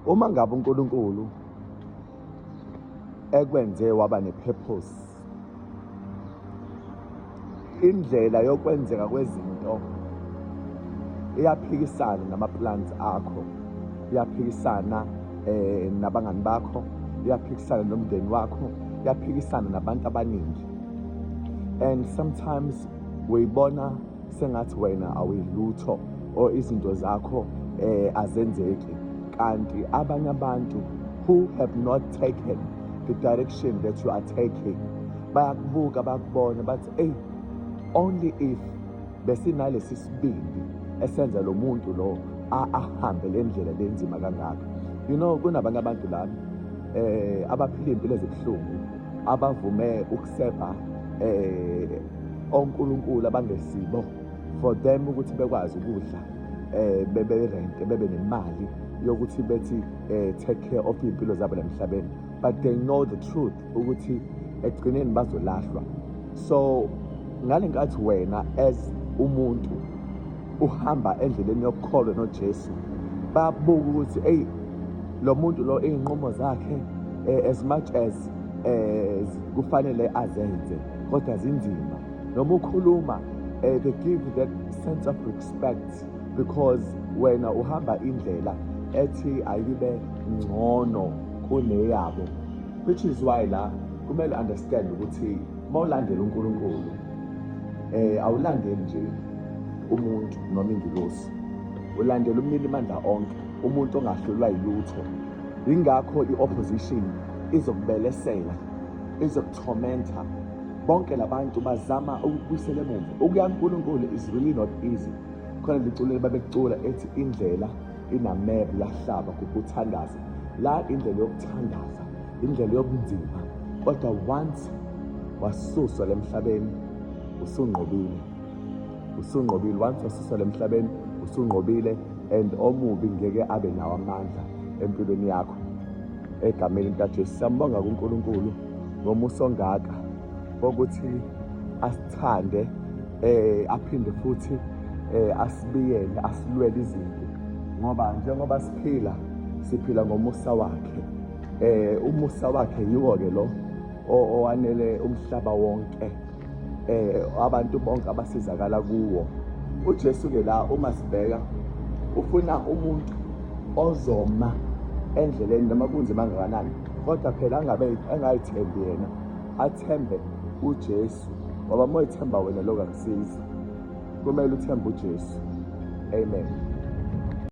Uma ngabe uNkulunkulu ekwenze waba nepurpose indlela yokwenzeka kwezinto iyaphikisana namaplans akho iyaphikisana eh nabangani bakho iyaphikisana nomndeni wakho iyaphikisana nabantu abaningi and sometimes weyibona sengathi wena awuyilutho or izinto zakho eh azenzeki kanti abanye abantu who have not taken the direction that you are taking bayakubuka bakubona bathi eyi only if besinalesi sibindi esenza lo muntu lo ahambe le ndlela lenzima kangaka you know kunabanye abantu lana eh abaphila impilo ezibuhlungu abavume ukusebha eh onkulunkulu abangesibo for them ukuthi bekwazi ukudla eh bebe rent bebe nemali yokuthi bethi eh take care of impilo zabo emhlabeni but they know the truth ukuthi ekugcineni bazolahlwa so ngalenkathi wena as umuntu uhamba endleleni yokukholwa noJesu babuka ukuthi eyi lo muntu lo iy'nqumo zakhe eh, as much as eh, kufanele azenze kodwa zinzima noma ukhuluma eh, they give that sense of respect because wena uhamba indlela ethi ayibe ngcono kuneyabo which is why la kumele understand ukuthi uma ulandela unkulunkulu um eh, awulandeli nje umuntu noma ingilosi ulandela umnini mandla onke umuntu ongahlulwa yilutho yingakho i-opposition izokubelesela izokuthomenta bonke labantu bazama ukubuyisela emuva ukuya kuNkulunkulu is really not easy khona liculo babekucula ethi indlela inamebe yahlaba kukuthandaza la indlela yokuthandaza indlela yobunzima kodwa once wasuswa lemhlabeni usunqobile usunqobile once wasuswa lemhlabeni usunqobile and omubi ngeke abe nawo amandla empilweni yakho egameni likaJesu siyambonga kuNkulunkulu ngomusa ongaka ukuthi asithande eh aphinde futhi eh asibiyele asilwele izinto ngoba njengoba siphila siphila ngomusa wakhe eh umusa wakhe yiwo ke lo owanele umhlaba wonke eh abantu bonke abasizakala kuwo uJesu ke la uma sibheka ufuna umuntu ozoma endleleni noma kunzima kangakanani kodwa phela angabe engayithembi yena athembe uJesu ngoba uma ethemba wena lokho akusizi kumele uthembe uJesu amen